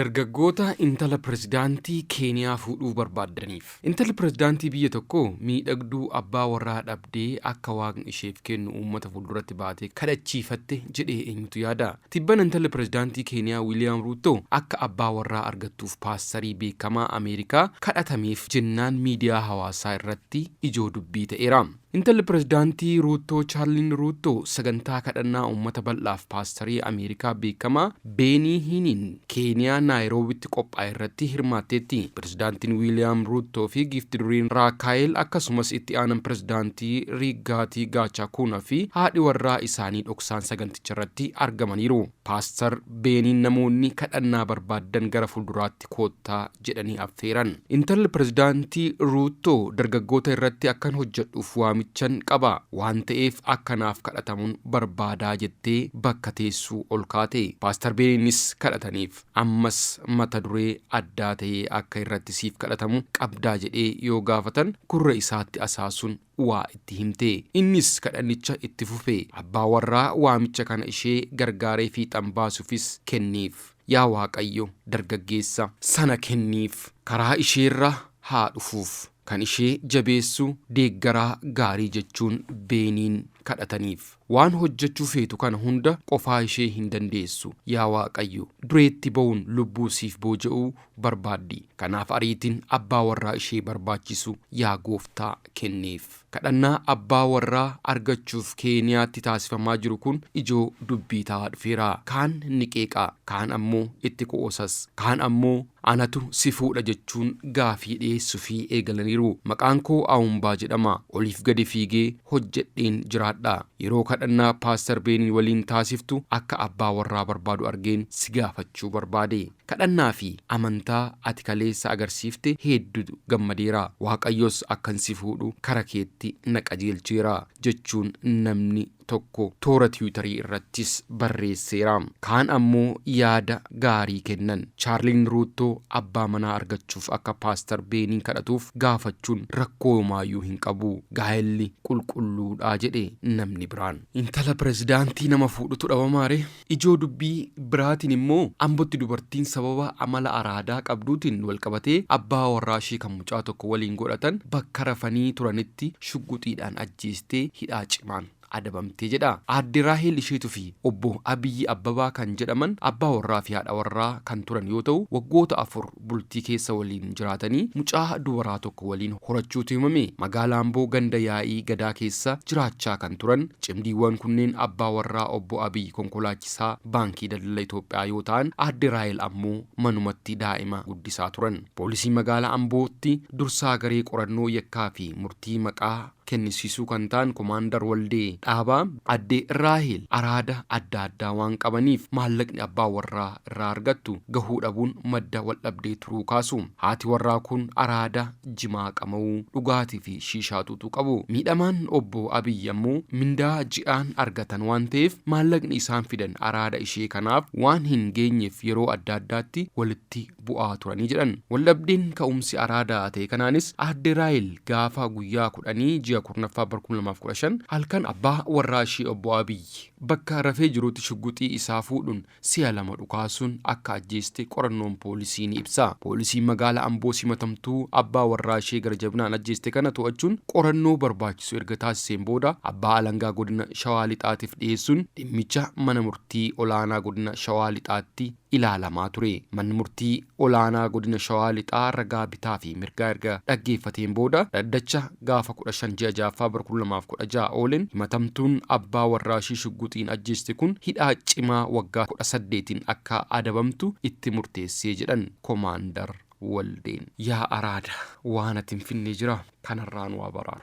Dargaggoota intala pirezidaantii Keeniyaa fuudhuu barbaaddaniif. Intalli pirezidaantii biyya tokkoo miidhagduu abbaa warraa dhabdee akka Waaqni isheef kennu uummata fuulduratti baatee kadhachiifatte jedhee eenyutu yaada? Tibbana intalli pirezidaantii Keeniyaa Wiiliyaam Ruuttoo akka abbaa warraa argattuuf paastarii beekamaa Ameerikaa kadhatameef jennaan miidiyaa hawaasaa irratti ijoo dubbii ta'eera. Intalli Pirezidaantii Ruuttoo Chaarliin Ruuttoo sagantaa kadhannaa uummata bal'aaf paastarii Ameerikaa beekamaa Beenii Hiiniin Keeniyaa Naayiroobitti qophaa'erratti hirmaatteetti. Pirezidaantiin Wiiliyaam Ruuttoo fi Giifti Duriin Raakaayil akkasumas itti aanan pirezidaantii Riiggaatii Gaachaakuunaa fi haadhi warraa isaanii dhoksaan saganticharratti argamaniiru. Paastar Beeniin namoonni kadhannaa barbaaddan gara fuulduraatti Itoophiyaatti koottaa jedhanii affeeran. Intalli Pirezidaantii Ruuttoo dargaggoota irratti akkan hojjedhuuf waamichan qaba. Waan ta'eef akka naaf kadhatamun barbaadaa jettee bakka teessuu ol kaate. Paastar Beeniinis kadhataniif. Ammas mata duree addaa ta'ee akka irratti siif kadhatamu qabdaa jedhee yoo gaafatan gurra isaatti asaasun waa itti himte. Innis kadhannicha itti fufe. Abbaa warraa waamicha kana ishee gargaaree fiixan baasufis kenniif. Yaa Waaqayyo, dargaggeessa. sana kenniif. Karaa isheerra haa dhufuuf. Kan ishee jabeessu, deeggaraa gaarii jechuun Beeniin kadhataniif. Waan hojjechuu feetu kana hunda qofaa ishee hin dandeessu. Yaa Waaqayyo! Dureetti ba'uun lubbuu siif booja'uu barbaaddi. Kanaaf ariitiin abbaa warraa ishee barbaachisu yaa Gooftaa kenniif. Kadhannaa abbaa warraa argachuuf Keeniyaatti taasifamaa jiru kun ijoo dubbii ta'aa dhufeera. Kaan ni qeeqa, kaan ammoo itti qo'oosas. Kaan ammoo Anatu si fuudha jechuun gaafii dhiyeessufi eegalaniiru. Maqaan koo Aumbaa jedhama. Oliif gadi fiigee hojjedheen jiraadha. Yeroo kadhannaa Paastar Beeniin waliin taasiftu akka abbaa warraa barbaadu argeen si gaafachuu barbaade. Kadhannaa fi amantaa ati kaleessa agarsiifte heeddu gammadeera. Waaqayyos akkan si fuudhu kara keetti na qajeelcheera, jechuun namni tokko toora Tiwiitarii irrattis barreesseera. Kaan ammoo yaada gaarii kennan. Chaarliin Ruuttoo abbaa manaa argachuuf akka Paastar Beeniin kadhatuuf gaafachuun rakkoo homaayyuu hin qabu. Gaa'elli qulqulluudha jedhe namni biraan. Intala pirezidaantii nama fuudhutu dhabamaaree? Ijoo dubbii biraatiin immoo Ambotti dubartiin sababa amala araadaa qabduutiin walqabatee abbaa warraa ishee kan mucaa tokko waliin godhatan bakka rafanii turanitti shugguxiidhaan ajjeestee hidhaa cimaan adabamte jedha. Aadde Raaheel Isheetu fi Obbo Abiyyi Abbabaa kan jedhaman abbaa warraa fi haadha warraa kan turan yoo ta'u, waggoota afur bultii keessa waliin jiraatanii mucaa dubaraa tokko waliin horachuutu himame. Magaala Amboo ganda Yaa'ii Gadaa keessa jiraachaa kan turan cimdiiwwan kunneen abbaa warraa Obbo Abiy konkolaachisaa Baankii Daldala Itoophiyaa yoo ta'an Aadde Raahel ammoo manumatti daa'ima guddisaa turan. Poolisii Magaala Ambootti dursaa garee qorannoo yakkaa fi murtii maqaa. kennisiisuu kan ta'an Komaandar Waldee Dhaabaa, Adde Raaheel araada adda addaa waan qabaniif maallaqni abbaa warraa irraa argattu gahuu dhabuun madda waldhabdee turuu kaasu. Haati warraa kun araada, jimaa qama'uu, dhugaatii fi shiishaa xuuxuu qabu. Miidhamaan Obbo Abiy ammoo mindaa ji'aan argatan waan ta'eef maallaqni isaan fidan araada ishee kanaaf waan hin geenyeef yeroo adda addaatti walitti bu'aa turanii jedhan. Waldhabdeen ka'umsi araada ta'e kanaanis Aadde Raahel gaafa guyyaa kudhanii ji'a kurnaffaa bara kuma lamaa fi kudha shan halkan abbaa warraa ishee obbo Abiy bakka rafee jirutti shugguxii isaa fuudhuun si'a lama dhukaasuun akka ajjeeste qorannoon poolisii ni ibsa. Poolisiin magaala Amboos himatamtuu abbaa warraa ishee gara jabinaan ajjeeste kana to'achuun qorannoo barbaachisu erga taasiseen booda abbaa alangaa godina Shawaa Lixaatiif dhiyeessuun dhimmicha mana murtii olaanaa godina Shawaa Lixaatti ilaalamaa ture. Manni Murtii Olaanaa Godina Shawaa Lixaa ragaa bitaa fi mirgaa erga dhaggeeffateen booda dhaddacha gaafa 15 ji'a 6ffaa bara 2016 oolen himatamtuun abbaa warraashii shugguxiin ajjeeste kun hidhaa cimaa waggaa 18n akka adabamtu itti murteessee jedhan Komaandar Waldeen. Yaa araada waan ati hin finne jira kanarraa nu abaraar.